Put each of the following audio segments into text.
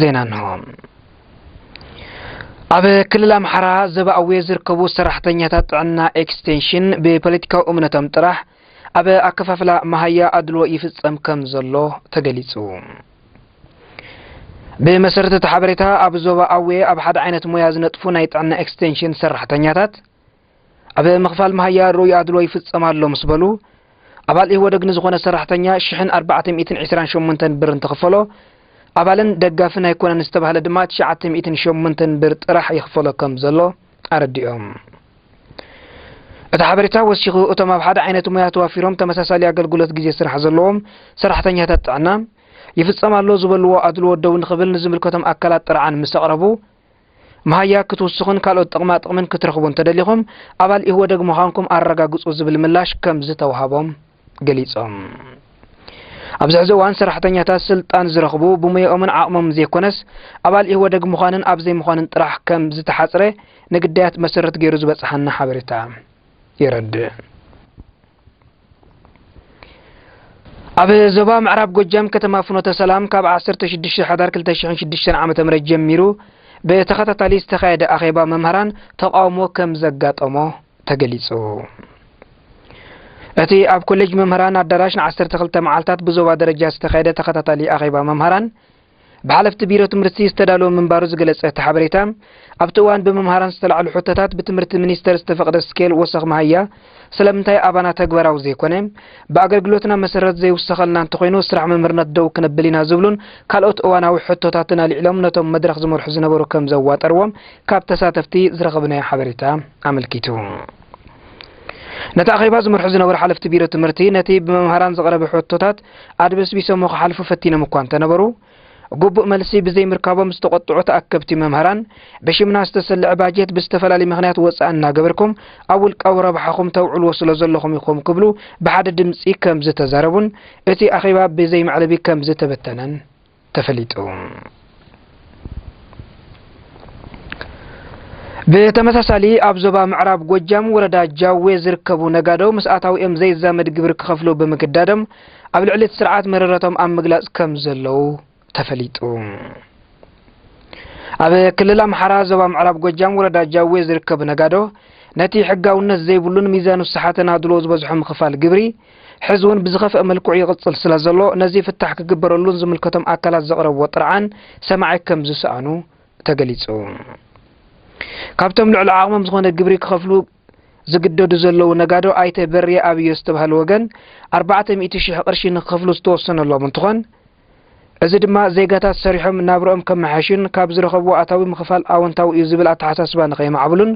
ዜና እንሆ። ኣብ ክልል ኣምሓራ ዘባ ኣዌ ዝርከቡ ሰራሕተኛታት ጥዕና ኤክስቴንሽን ብፖለቲካዊ እምነቶም ጥራሕ ኣብ ኣከፋፍላ መሃያ ኣድልዎ ይፍጸም ከም ዘሎ ተገሊጹ። ብመሰረት እቲ ሓበሬታ ኣብ ዞባ ኣዌ ኣብ ሓደ ዓይነት ሞያ ዝነጥፉ ናይ ጥዕና ኤክስቴንሽን ሰራሕተኛታት ኣብ ምኽፋል መሃያ ርኡይ ኣድሎ ይፍጸም ኣሎ ምስ በሉ ኣባል ኢህወደግ ንዝኾነ ሰራሕተኛ ሽሕን ኣርባዕተ ሚእትን ዕስራን ሸሞንተን ብር እንትኽፈሎ ኣባልን ደጋፍን ኣይኮነን ዝተባህለ ድማ ትሽዓተ ሚእትን ሸሞንተን ብር ጥራሕ ይኽፈሎ ከም ዘሎ ኣረዲኦም። እቲ ሓበሬታ ወሲኹ እቶም ኣብ ሓደ ዓይነት ሙያ ተዋፊሮም ተመሳሳሊ ኣገልግሎት ግዜ ስራሕ ዘለዎም ሰራሕተኛታት ጥዕና ይፍጸም ኣሎ ዝበልዎ ኣድልዎ ደው ንኽብል ንዝምልከቶም ኣካላት ጥርዓን ምስ ኣቕረቡ መሃያ ክትውስኹን ካልኦት ጥቕማ ጥቕምን ክትረኽቡ እንተደሊኹም ኣባል ኢህወደግ ምዃንኩም ኣረጋግጹ ዝብል ምላሽ ከም ዝተውሃቦም ገሊጾም። ኣብዚ ሕዚ እዋን ሰራሕተኛታት ስልጣን ዝረኽቡ ብሙያኦምን ዓቕሞምን ዘይኮነስ ኣባል ኢህወደግ ምዃንን ኣብ ዘይምዃንን ጥራሕ ከም ዝተሓጽረ ንግዳያት መሰረት ገይሩ ዝበጽሓና ሓበሬታ የረድእ። ኣብ ዞባ ምዕራብ ጎጃም ከተማ ፍኖተ ሰላም ካብ 16 ሕዳር 2006 ዓ ም ጀሚሩ ብተኸታታሊ ዝተኻየደ ኣኼባ መምህራን ተቃውሞ ከም ዘጋጠሞ ተገሊጹ እቲ ኣብ ኮሌጅ መምህራን ኣዳራሽ ን12 መዓልታት ብዞባ ደረጃ ዝተኻየደ ተኸታታሊ ኣኼባ መምህራን ብሓለፍቲ ቢሮ ትምህርቲ ዝተዳለወ ምንባሩ ዝገለጸ እቲ ሓበሬታ ኣብቲ እዋን ብመምሃራን ዝተላዕሉ ሕቶታት ብትምህርቲ ሚኒስተር ዝተፈቕደ ስኬል ወሰኽ መሃያ ስለምንታይ ኣባና ተግባራዊ ዘይኮነ ብኣገልግሎትና መሰረት ዘይውሰኸልና እንተኾይኑ ስራሕ መምህርነት ደው ክነብል ኢና ዝብሉን ካልኦት እዋናዊ ሕቶታትን ኣልዒሎም ነቶም መድረኽ ዝመርሑ ዝነበሩ ከም ዘዋጠርዎም ካብ ተሳተፍቲ ዝረኸብናዮ ሓበሬታ ኣመልኪቱ። ነቲ ኣኼባ ዝመርሑ ዝነበሩ ሓለፍቲ ቢሮ ትምህርቲ ነቲ ብመምሃራን ዝቐረበ ሕቶታት ኣድበስቢሶሞ ክሓልፉ ፈቲኖም እኳ እንተነበሩ ግቡእ መልሲ ብዘይምርካቦም ዝተቆጥዑ ተኣከብቲ መምህራን ብሽምና ዝተሰልዐ ባጀት ብዝተፈላለዩ ምክንያት ወፃኢ እናገበርኩም ኣብ ውልቃዊ ረብሓኹም ተውዕልዎ ስለ ዘለኹም ኢኹም ክብሉ ብሓደ ድምፂ ከም ዝተዛረቡን እቲ ኣኼባ ብዘይመዕለቢ ከም ዝተበተነን ተፈሊጡ። ብተመሳሳሊ ኣብ ዞባ ምዕራብ ጎጃም ወረዳ ጃዌ ዝርከቡ ነጋዶ ምስ ኣታዊኦም ዘይዛመድ ግብሪ ክኸፍሉ ብምግዳዶም ኣብ ልዕሊ እቲ ስርዓት መረረቶም ኣብ ምግላፅ ከም ዘለዉ ተፈሊጡ። ኣብ ክልል ኣምሓራ ዞባ ምዕራብ ጎጃም ወረዳ ጃዌ ዝርከቡ ነጋዶ ነቲ ሕጋውነት ዘይብሉን ሚዛኑ ዝሰሓተን ኣድሎ ዝበዝሖ ምኽፋል ግብሪ ሕዚ እውን ብዝኸፍአ መልክዑ ይቕፅል ስለዘሎ ነዚ ፍታሕ ክግበረሉን ዝምልከቶም ኣካላት ዘቕረብዎ ጥርዓን ሰማዒ ከምዝሰኣኑ ተገሊፁ። ካብቶም ልዕሊ ዓቕሞም ዝኾነ ግብሪ ክኸፍሉ ዝግደዱ ዘለዉ ነጋዶ ኣይተ በርየ ኣብዮ ዝተባሃሉ ወገን ኣርባዕተ ሚእቲ ሽሕ ቅርሺ ንክኸፍሉ ዝተወሰነሎም እንትኾን እዚ ድማ ዜጋታት ሰሪሖም ናብርኦም ከመሓይሹን ካብ ዝረኸብዎ ኣታዊ ምኽፋል ኣወንታዊ እዩ ዝብል ኣተሓሳስባ ንከየማዕብሉን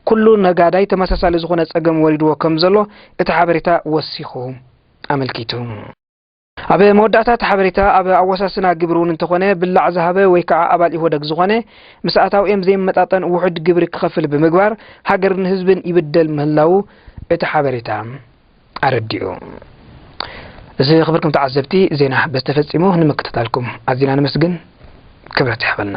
ኩሉ ነጋዳይ ተመሳሳሊ ዝኾነ ፀገም ወሪድዎ ከምዘሎ እቲ ሓበሬታ ወሲኹ ኣመልኪቱ። ኣብ መወዳእታ እቲ ሓበሬታ ኣብ ኣወሳስና ግብሪ እውን እንተኾነ ብላዕ ዝሃበ ወይ ከዓ ኣባል ኢህወደግ ዝኾነ ምስ ኣታዊኦም ዘይመጣጠን ውሑድ ግብሪ ክኸፍል ብምግባር ሃገርን ህዝብን ይብደል ምህላዉ እቲ ሓበሬታ ኣረዲኡ። ዝኽብርኩም ተዓዘብቲ ዜና በዚ ተፈጺሙ ንምክትታልኩም ኣዚና ነመስግን ክብረት ይሓበልና።